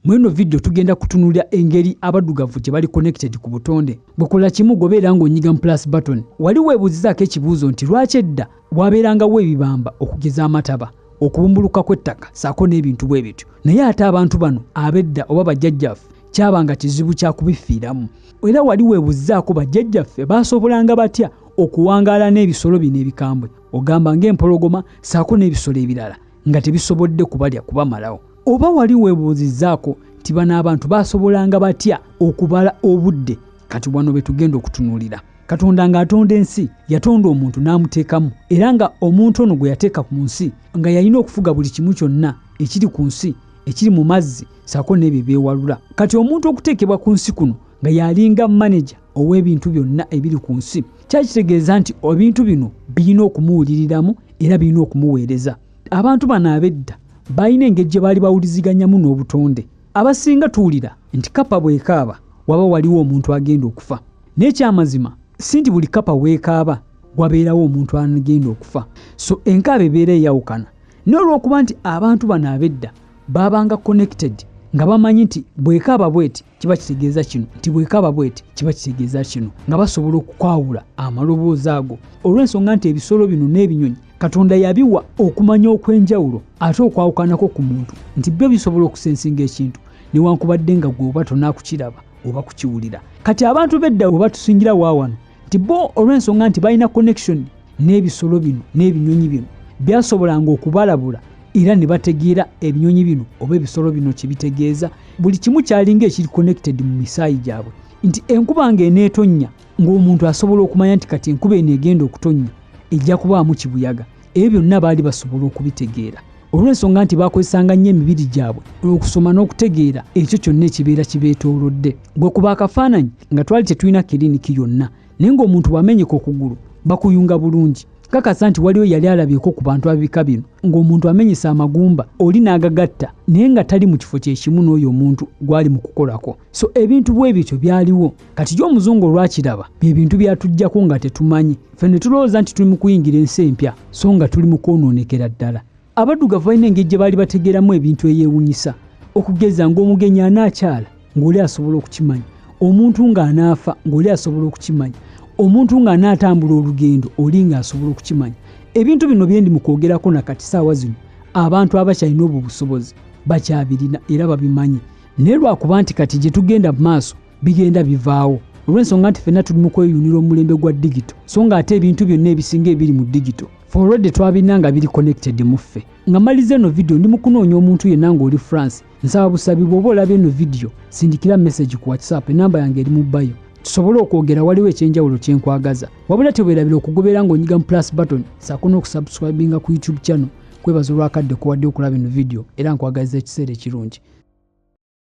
Mu eno vidiyo tugenda kutunulira engeri abaddugavu gye bali connected ku butonde. Gwe kola kimu gobeera ng'onyiga mu plus button. Wali weebuuzizaako ekibuuzo nti lwaki edda waabeerangawo ebibamba okugeza amataba, okubumbulukuka kw'ettaka ssaako n'ebintu bwe bityo naye ate abantu bano ab'edda oba bajjajjaffe kyabanga kizibu kya kubifiiramu? Era wali weebuuzizaako bajjajjaffe baasobolanga batya okuwangaala n'ebisolo bino ebikambwe ogamba ng'empologoma ssaako n'ebisolo ebirala nga tebisobodde kubalya kubamalawo? Oba wali webuuzizzaako nti bano abantu baasobolanga batya okubala obudde? Kati wano be tugenda okutunuulira. Katonda ng'atonda ensi, yatonda omuntu n'amuteekamu, era nga omuntu ono gwe yateeka ku nsi nga yalina okufuga buli kimu kyonna ekiri ku nsi, ekiri mu mazzi ssaako n'ebyo ebyewalula. Kati omuntu okuteekebwa ku nsi kuno nga yalinga maneja ow'ebintu byonna ebiri ku nsi, kyakitegeeza nti ebintu bino birina okumuwuliriramu era birina okumuweereza. abantu bano ab'edda balina engeri gye baali bawuliziganyamu n'obutonde abasinga tuwulira nti kapa bwekaaba waba waliwo omuntu agenda okufa n'ekyamazima si nti buli kapa weekaaba wabeerawo omuntu agenda okufa so enkaaba ebeera eyawukana n'olwokuba nti abantu bano ab'edda baabanga connected nga bamanyi nti bwekaaba bweti kiba kitegeeza kino nti bwekaaba bweti kiba kitegeeza kino nga basobola okukwawula amaloboozi ago olw'ensonga nti ebisolo bino n'ebinyonyi katonda yabiwa okumanya okw'enjawulo ate okwawukanako ku muntu nti byo bisobola okusensinga ekintu newankubadde nga gwe oba tonakukiraba oba kukiwulira kati abantu bedda oba tusingira waawano nti bo olw'ensonga nti balina connection n'ebisolo bino n'ebinyonyi bino byasobolanga okubalabula era ne bategeera ebinyonyi bino oba ebisolo bino kye bitegeeza buli kimu kyalinga ekiri connected mu misaayi gyabwe nti enkuba nga eneetonnya ng'omuntu asobola okumanya nti kati enkuba eno egenda okutonnya ejja kubaamu kibuyaga ebyo byonna baali basobola okubitegeera olw'ensonga nti bakozesanga nnyo emibiri gyabwe okusoma n'okutegeera ekyo kyonna ekibeera kibeetoolodde gwe kuba akafaananyi nga twali tetulina kiriniki yonna naye ng'omuntu bw'amenyeka okugulu bakuyunga bulungi kakasa nti waliwo yali alabyeko ku bantu ababika bino ng'omuntu amenyesa amagumba oli n'agagatta naye nga tali mu kifo kyekimu n'oyo omuntu gwali mu kukolako so ebintu bwe bityo byaliwo kati gy omuzungu olwakiraba bye bintu byatuggyako nga tetumanyi ffe ne tulowooza nti tuli mu kuyingira ensi empya so nga tuli mu kwonoonekera ddala Abaddugavu balina engeri gye baali bategeeramu ebintu eyeewunyisa okugeza ng'omugenyi anaakyala ng'oli asobola okukimanya omuntu ng'anaafa ng'oli asobola okukimanya omuntu ng'anaatambula olugendo oli ng'asobola okukimanya ebintu bino byendi mu kwogerako na kati saawa zino abantu abakyalina obwo busobozi bakyabirina era babimanyi naye lwakuba nti kati gye tugenda mu maaso bigenda bivaawo olw'ensonga nti fenna tuli mu kweyunira omulembe gwa digito so nga ate ebintu byonna ebisinga ebiri mu digito foredi twabirina nga biri connected mu ffe nga maliza eno vidiyo ndi mukunoonya omuntu yenna ng'oli france nsaba busabi bw'oba olaba eno vidiyo sindikira message ku whatsapp enamba yange eri mu bayo tusobole okwogera waliwo ekyenjawulo kyenkwagaza wabula tewerabira okugobeera ng'onyiga mu plus button saako n'okusubscribinga ku youtube channel kwebaza olwakadde kuwadde okulaba eno vidiyo era nkwagaliza ekiseera ekirungi